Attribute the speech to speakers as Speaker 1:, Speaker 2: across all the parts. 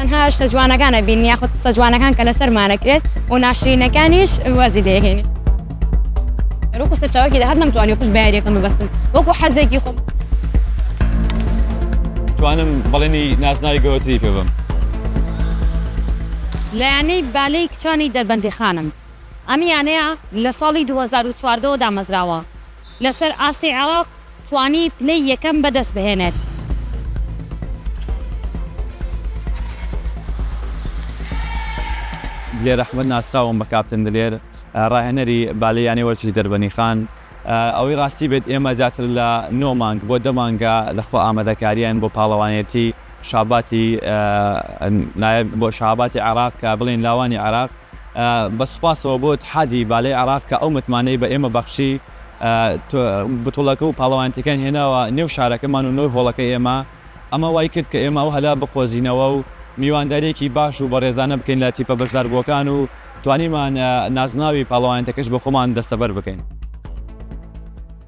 Speaker 1: تەنها شتە جوانەکان ئەبینین یاخود قسە جوانەکان کە لەسەرمان ئەکرێت و ناشرینەکانیش وازی لێ ئەهێنین
Speaker 2: وەکو سەرچاوەکی داهات نەمتوانی پشت بە یاریەکەم ببەستم وەکو حەزێکی خۆم
Speaker 3: توانم بەڵێنی نازناوی گەورەتری پێ بم
Speaker 4: لە یانەی بالەی کچانی دەربەندیخانم ئەم یانەیە لە ساڵی 2014 ەوە دامەزراوە لەسەر ئاستی عێراق توانی پلەی یەکەم بەدەستبهێنێت.
Speaker 3: دلێر ئەحمەد ناسراوم بە کاپتن دلێر، راهێنەری بالەی یانەی وەرزشی دەربەنیخان. ئەوەی راستی بێت ئێمە زیاتر لە نۆ مانگ بۆ دە مانگە لە خۆ ئامادەکاریین بۆ پاڵەوانێتی شاباتی نایب بۆ شاباتی عێراق کە بڵێین لاوانی عێراق، بە سوپاسەوە بۆ ئیتحادی بالەی عێراق کە ئەو متمانەی بە ئێمە بەخشی، بتوڵەکە و پاڵەوانێتیەکەیان هێناوە نێو شارەکەمان و نۆی هۆڵەکەی ئێمە، ئەمە وای کرد کە ئێمە ئەو هەلە بقۆزینەوە و میوانداریەکی باش و بەڕێزانە بکەین لە تیپە بەشداربووەکان و توانیمان نازناوی پاڵەوانێتەکەش بە خۆمان دەستەبەر بکەین.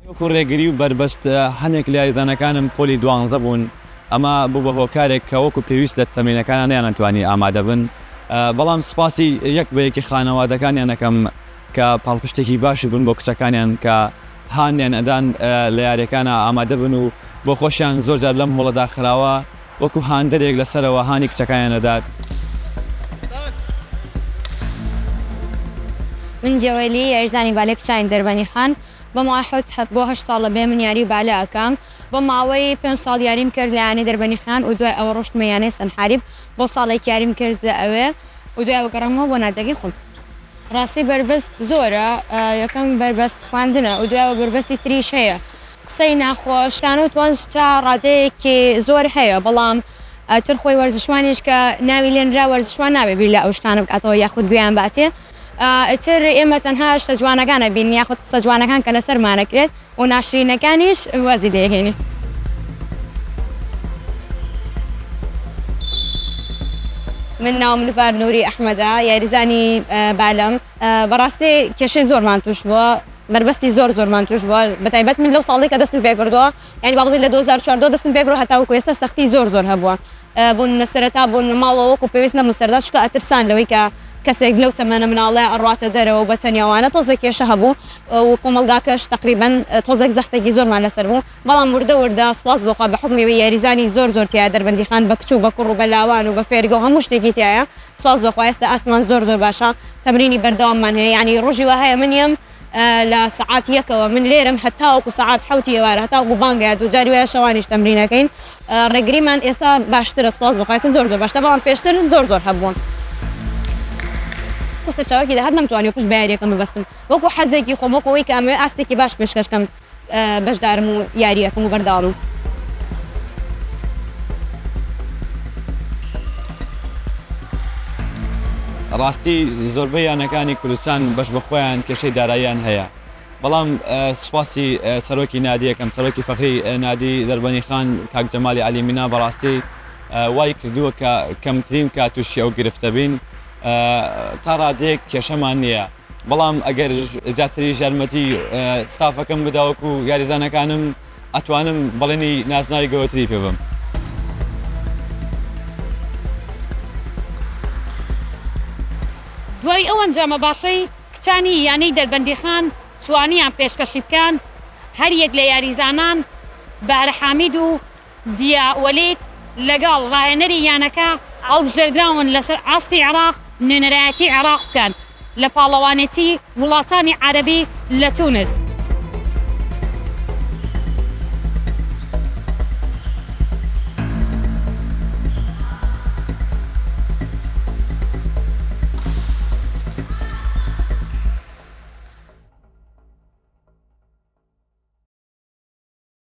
Speaker 3: وەکو ڕێگری و بەربەست هەنێک لە یاریزانەکانم پۆلی دوانزە بوون، ئەمە بوو بە هۆکارێک کە وەکو پێویست لە تەمرینەکانا نەیانەتوانی ئامادە بن، بەڵام سوپاسی یەک بە یەکی خانەوادەکانیان ئەکەم کە پاڵپشتێکی باشی بوون بۆ کچەکانیان کە هانیان ئەدان لە یاریەکانا ئامادە بن و بۆ خۆشیان زۆر جار لەم هۆڵە داخراوە وەکو هاندەرێک لە سەرەوە هانی کچەکانیان ئەدات.
Speaker 1: من جەوەلی یاریزانی بالەی کچانی دەربەنی خان بەماوەی حەوت بۆ هەشت ساڵ لە بێ من یاری بالە ئەکەم، بۆ ماوەی پێنج ساڵ یاریم کرد لە یانەی دەربەنی خان و دوای ئەوە ڕۆشتمە یانەی سەنحاریب بۆ ساڵێک یاریم کرد لە ئەوێ و دوای ئەوە گەڕامەوە بۆ نادیەکەی خۆم ڕاستی بەربەست زۆرە یەکەم بەربەست خواندنە و دوای ئەوە بەربەستی تریش هەیە قسەی ناخۆش تان و تۆنج تا ڕادەیەکی زۆر هەیە بەڵام ئەتر خۆی وەرزشوانیش کە ناوی لێنرا وەرزشوان نابێ بیر لە ئەو شتانە بکاتەوە یاخود گوێیان باتێ. ئیتر ئێمە تەنها شتە جوانەکان ئەبینین یاخود قسە جوانەکان کە لەسەرمان ئەکرێت و ناشرینەکانیش وازی لێ ئەهێنین.
Speaker 2: من ناوم نڤار نوری ئەحمەدە یاریزانی بالەم بەڕاستی کێشەی زۆرمان توش بووە بەربەستی زۆر زۆرمان توش بووە بەتایبەت من لەو ساڵی کە دەستم پێکردووە یعنی بابڵی لە 2014 دەستم پێکرۆ هەتاوکو ئێستا سەختی زۆر زۆر هەبووە بۆ نمونە سەرەتا بۆ نمونە ماڵەوە وەکو پێویست نەبوون سەرەتا چونکە ئەترسان لەوەی کە کەسێک لەو تەمەنە مناڵە ئەڕواتە دەرەوە و بەتەنیا وانە تۆزێک کێشە هەبوو و کۆمەڵگاکەش تەقریبەن تۆزێک زەختێکی زۆرمان لەسەر بوو بەڵام وردە وردە سوپاس بۆخوا بە حوکمی ئەوەی یاریزانی زۆر زۆر تیایە دەربەندیخان بە کچ و بە کوڕ و بە لاوان و بە فێرگە و هەموو شتێکی تیایە سوپاس بەخوا ئێستا ئاستمان زۆر زۆر باشە تەمرینی بەردەواممان هەیە یانی ڕۆژی وا هەیە من یەم لە سەعات یەکەوە من لێرەم هەتاوەکو سەعات حوتی ئێوارە هەتاوەکو بانگەیە دووجاری وایە شەوانیش تەمرینەکەین ڕێگریمان ئێستا باشترە سپاس بخواستی زۆر زۆر باشتە بەڵام پێشتر زۆر زۆر هەبووم سەرچاوکی داهات نەمتوانی پشت بەیاریەکەم ببستم وەکو حەزێکی خۆمەکەوەی کامێ ئاستێکی باش پێشکەشکەم بەشدارم و یاری ئەکەم و بەردەوامم.
Speaker 3: ڕاستی زۆربەی یانەکانی کوردستان بەش بە خۆیان کێشەی داراییان هەیە بەڵام سوپاسی سەرۆکی نادی یەکەم سەرۆکی فەخری نادی دەربەنی خان کاک جەمالی عەلی مینا بەڕاستی وای کردووە کە کەمترین کات تووشی ئەو گرفتە بین تا ڕادەیەک کێشەمان نییە. بەڵام ئەگەر زیاتریش یارمەتی ستافەکەم بداوەک و یاریزانەکانم ئەتوانم بەڵێنی نازناوی گەورەتری پێ بم.
Speaker 4: دوای ئەو ئەنجامە باشەی کچانی یانەی دەربەندیخان توانیان پێشکەشی بکەن، هەریەک لە یاریزانان بەهرە حامید و دیا وەلید، لەگەڵ راهێنەری یانەکە هەڵبژێردراون لەسەر ئاستی عێراق نوێنەرایەتی عێراق بکەن لە پاڵەوانێتی وڵاتانی عەرەبی لە تونس.